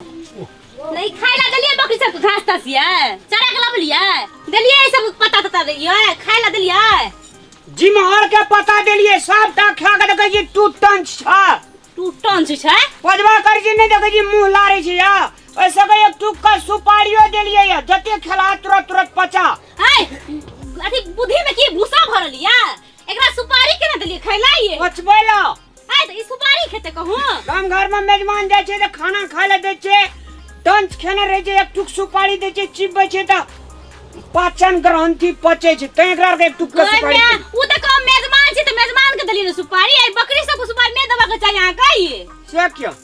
नहीं खाए ला देलिए बकरी सब के घास तास ये चरा के लबलिए देलिए ई सब पता तता देलिए खाए ला देलिए जिमहर के पता देलिए सब टा खा के देखे छी टू टन छ तू टन छी छै पजवा कर छी नहीं देखे छी मुंह लारे छी या ऐसे के एक टुक का सुपारियो देलिए या जते खेला तुरंत तुरंत पचा हाय अथी बुद्धि में की भूसा भरल ये एकरा सुपारी केना देलिए खैला ये पचबे ला आइ तऽ ई सुपारी खेते कहू गाम घर में मेजमान जाए छे तो खाना खाए ले दे छे टंच खेने रहे छे एक टुक सुपारी दे छे चिबे छे तो पाचन ग्रंथि पचे छे ते एकरा के एक टुक के सुपारी ओहिमे दे। उ तऽ कहब मेजमान छी तऽ मेजमान के देली ने सुपारी आइ बकरी सबके सुपारी नहि देबाक चाही अहाँ कही से क्यों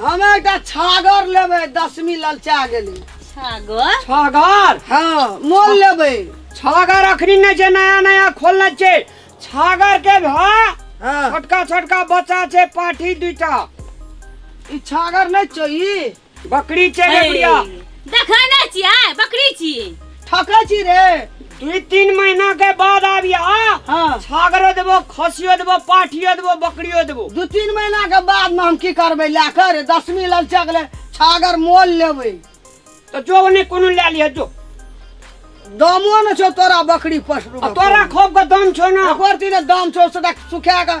हम एकटा छागर लेबै दसमी ललचा गेलै छागर छागर हाँ मोल लेबै छागर अखनी नहि छै नया नया खोलने छै छागर के भा हाँ छोटका छोटका बच्चा छै पाठी दूटा ई छागर नहि छौ ई बकरी छै रे बुढ़िया देखै नहि छियै बकरी छी ठकै छी रे दुई तीन महीना के बाद आबिया हाँ। छागरो देबो खसियो देबो पाठियो देबो बकरियो देबो दू तीन महीना के बाद में हम की करबै लए कऽ रे दसमी ललचा गेलै छागर मोल लेबै तो जो ओने कोनो ले लिह जो दामो ने छौ तोरा बकरी पसरू आ तोरा खोप के दम छौ ना एक बार तीने दाम छौ से सुखा कऽ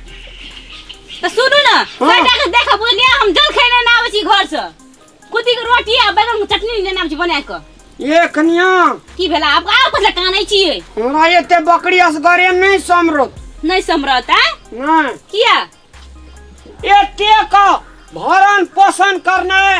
तऽ सुनू ने बेटा के देखऽ बुझलियै हम जल खैने ना आबै छी घर से कुदी के रोटी आ बैगन के चटनी लेने आबै छी बना के ए कनिया की भेला आब आब कथि लए कानै छियै हमरा एते बकरी असगरे नहि समरत नहि समरत आ नहि किया एते का भरण पोषण करनाइ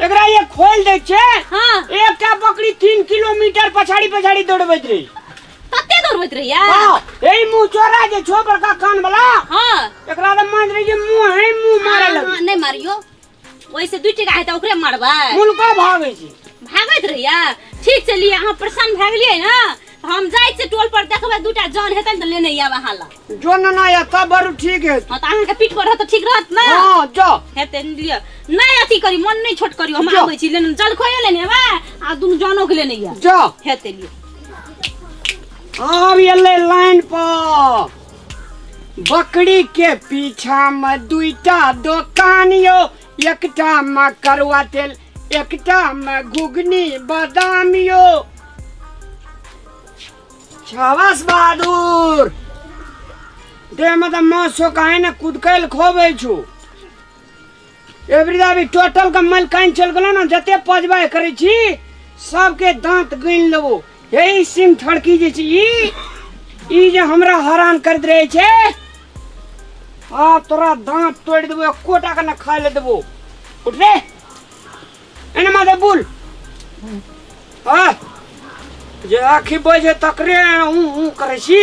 एकरा ये खोल दे छे हाँ एकटा बकरी तीन किलोमीटर पछाड़ी पछाड़ी दौड़बैत रही तते दौड़बैत रहिया हाँ यही मुँह चोरा जे छो बड़का कान वाला हाँ एकरा तो मान रही जे मुँह है मुँह मारे हाँ, लगे हाँ, नहीं मारियो वैसे दू टका हेतै ओकरे मारबै मुल्को भागे छी भागैत रहिया ठीक छै लिए अहाँ प्रसन्न भए गेलियै ने हम जाइ छी टोल पर देखबै दूटा जन हेतै ने तऽ लेने आयब अहाँ लग जो न ना या तब बड़ ठीक है हँ तऽ अहाँके पीठ पर रहत तऽ ठीक रहत ने हां जो हेतै लिअ नहि अथी करी मन नहि छोट करी हम आबै छी लेने जलखोए लेने एबै आ दुनू जनो के लेने आयब जो हेतै लिअ आब एलै लाइन पर बकरी के पीछा में दुईटा दोकान यो एकटा में करुआ तेल एकटा मे घुघनी बादाम यो शाबाश बहादुर देहमे तऽ माछ छौ काहे ने कुदकै लए खोबै छौ एवरी अभी टोटल के मलकाइन चल गेलो ने जते पजबाय करै छी सबके दांत गनि लेबो यही सिम ठड़की जे छै ई ई जे हमरा हरान करैत रहै छै आ तोरा दाँत तोड़ि देबो कोटा के ने खाय ले देबो उठ रे एने माथे बुल आ जे आखि बजे तकरे हूँ हूँ करै छी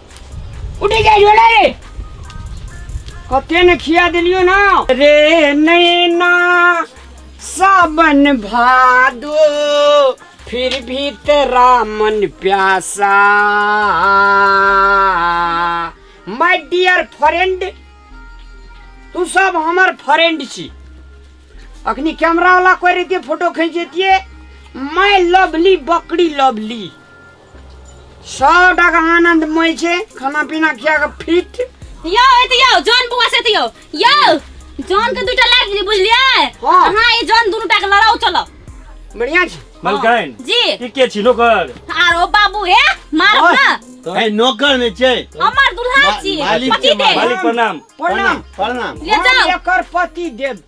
उठे जाइयो ना रे कते ने खिया दिलियो ना रे नैना सावन भादो फिर भी तेरा मन प्यासा माय डियर फ्रेंड तू सब हमर फ्रेंड छी अखनी कैमरा वाला कोई रहितिए फोटो खींच देतिए माय लवली बकरी लवली सौ टका आनंद मोय छै खाना पीना खिया के फिट यो एते यो जॉन बुआ से यो यो जॉन के दुटा लाग जी बुझलिए हां हां ई जॉन दुनु टा के लड़ाओ चलो बढ़िया छै मलकाइन जी ई के छी नौकर आरो बाबू हे मार ना ए नौकर नै छै हमर दुल्हा छी पति दे मालिक प्रणाम प्रणाम प्रणाम ले जाओ एकर पति देव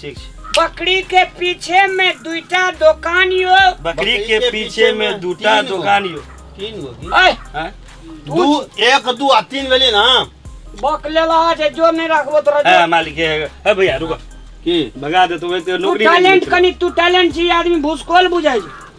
ठीक छै बकरी के पीछे में दुईटा दोकान यो बकरी के पीछे में दूटा तीन गो। दुकान यो तीन गो की? ऐ हैं? दू एक दू आ तीन भेलै ना बक लेला जे जो नहीं रखबो तोरा है जो मालिक है है भैया रुको की भगा दे तो वैसे तू नौकरी नहीं टैलेंट मिलती। कनी तू टैलेंट छी आदमी भूसकोल बुझाई छै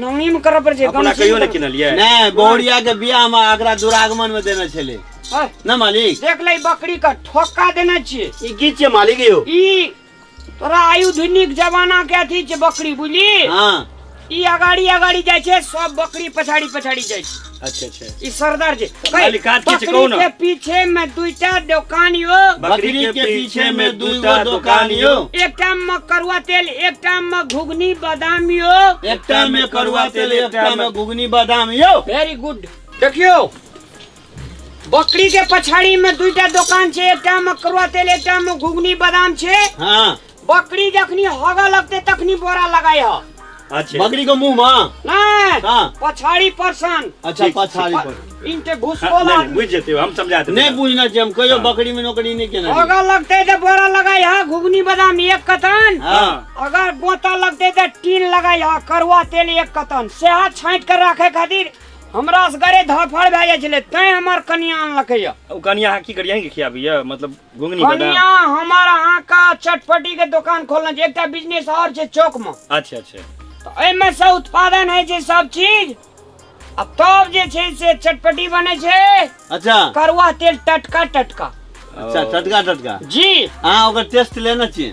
नवमी में करऽ पड़े छै अपना गमछी कहियो में नहि करऽ- किनलियै नहि बहुरिया के बियाह में एकरा दुरागमन में देने छलै है, ना मालिक देख ले ई बकरी के ठोका देने छियै ई की छियै मालिक यौ ई तोरा आयुधनिक जमाना के अथी छै बकरी बुझली हाँ ई अगाड़ी अगाड़ी जाइ छै सब बकरी पछाड़ी पछाड़ी जाइ छै अच्छा अच्छा ई सरदार जी मलिकार के बकरी कौन? के पीछे में दुईटा दुकान यो बकरी के पीछे में दू गो दुकान यो एक टाइम में करुआ तेल एक टाइम में घुगनी बादाम यो एक टाइम में करुआ तेल एक टाइम में घुगनी बादाम यो वेरी गुड देखियो बकरी के पछाड़ी में दुईटा दुकान छे एक टाइम में करुआ तेल एक टाइम में घुगनी बादाम छे हाँ बकरी जखनी हग लगते तखनी बोरा लगाई हो अच्छा बकरी को मुंह मां नहीं का पछाड़ी पर्सन अच्छा ठीक, पछाड़ी पर इनके हाँ, घुसकोल नहीं, नहीं, आदमी बुझ जाते हो हम समझा देते नहीं हैं। बुझना चाहिए हम कहियो बकरी में नौकरी नहीं केना हग लगते तो बोरा लगाई हो घुगनी बादाम एक कतन हां अगर बोतल लगते तो टीन लगाई हो करुआ तेल एक कतन सेहत छांट कर रखे खातिर हमरा से घरे धफड़ भए जाइ छले तैं हमर कनिया अनलकै हो उ कनिया अहाँ की करियै अहींके खियाबी यऽ मतलब घुंगनी बदाम कनिया हमर अहाँ का चटपटी के दुकान खोलना छै एकटा बिजनेस और छै चौक में अच्छा अच्छा तो एहिमे से उत्पादन होइ छै सब चीज आ तब जे छै से चटपटी बनै छै अच्छा करुआ तेल टटका टटका अच्छा टटका टटका जी अहाँ ओकर टेस्ट लेने छियै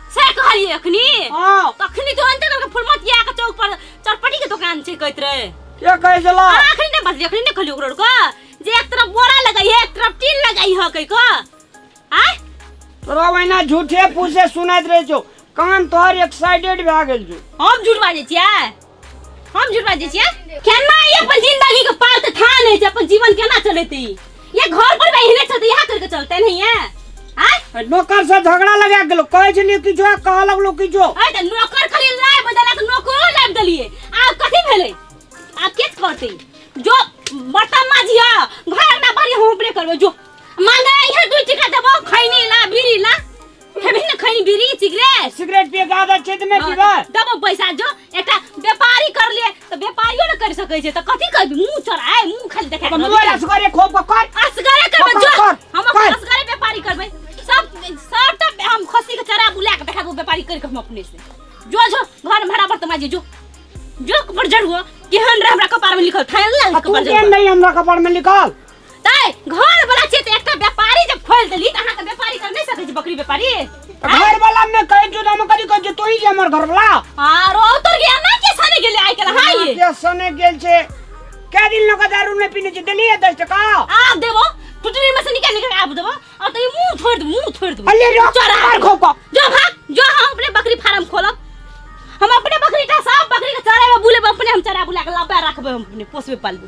से कहलिए अखनी हां तखनी तो अंत तक फुलमतिया के चौक पर चरपटी के दुकान छै कहत रहे के कहै छला अखनी ने बजली अखनी ने कहली ओकरो को जे एक तरफ बोरा लगाई है एक तरफ टीन लगाई है कह को आय तोरा वहिना झूठे फूसे सुनैत रहै छौ कान तोहर एक्साइटेड भए गेल छौ हम झूठ बाजै छियै हम झूठ बाजै छियै केना ई अपन जिंदगी के पाल तऽ थाह नहि छै अपन जीवन केना चलेतै ई ये घर पर एहने चलतै इएह करके चलतै नहीं है आय नौकर से झगड़ा लगा गेलो कहै छलिए किछो आ कहऽ लगलो किछो अरे तऽ नौकर खाली लाय बदला तऽ नौकरो लाबि देलियै आब कथी भेलै आब के करतै जो बर्तन माजिया घर अंगना बारी हम उपरे करबै जो मांगे इहे दू टिका देबो खैनी ला बीड़ी ला खेबही न खैनी बीड़ी सिगरेट सिगरेट पिए के आदत छै त नै हाँ, पीबा त दबो पैसा जो एकटा व्यापारी कर लिए त व्यापारियो न कर सकै छै त कथी करबी मुंह चढ़ाए मुंह खाली देखा अपन मोबाइल असगरे खोप के कर असगरे करबै कर, जो कर, हम अपन कर। असगरे व्यापारी करबै सब सब त हम खस्सी के चरा बुला के देखा दो व्यापारी कर के हम अपने से जो जो घर में भरा बर्तन माजे जो जो कपड़ जड़ुआ केहन रहे हमरा कपार में लिखल थायल ना आ तू कपड़ के जड़ुआ नै हमरा कपार में लिखल तै घर वाला छियै तऽ एकटा व्यापारी जब खोल देली तऽ अहाँ के व्यापारी कर नहीं सकै छी बकरी व्यापारी घर वाला में कहे जो हम करी कहे जो तू ही जे हमर घर वाला आरो उतर गया ना के सने गेले आइ के हां ये के सने गेल छे के दिन लगा दारू ने पीने छे देली 10 टका आ देबो टुटरी में से निकाल निकाल आब देबो आ तो मुंह छोड़ दे मुंह छोड़ दे अल्ले रो चोरा मार खोपा जो भाग जो हम अपने बकरी फार्म खोलब हम अपने बकरी का सब बकरी के चराबे बुलेबे अपने हम चरा बुला के लाबे रखबे हम अपने पोसबे पालबे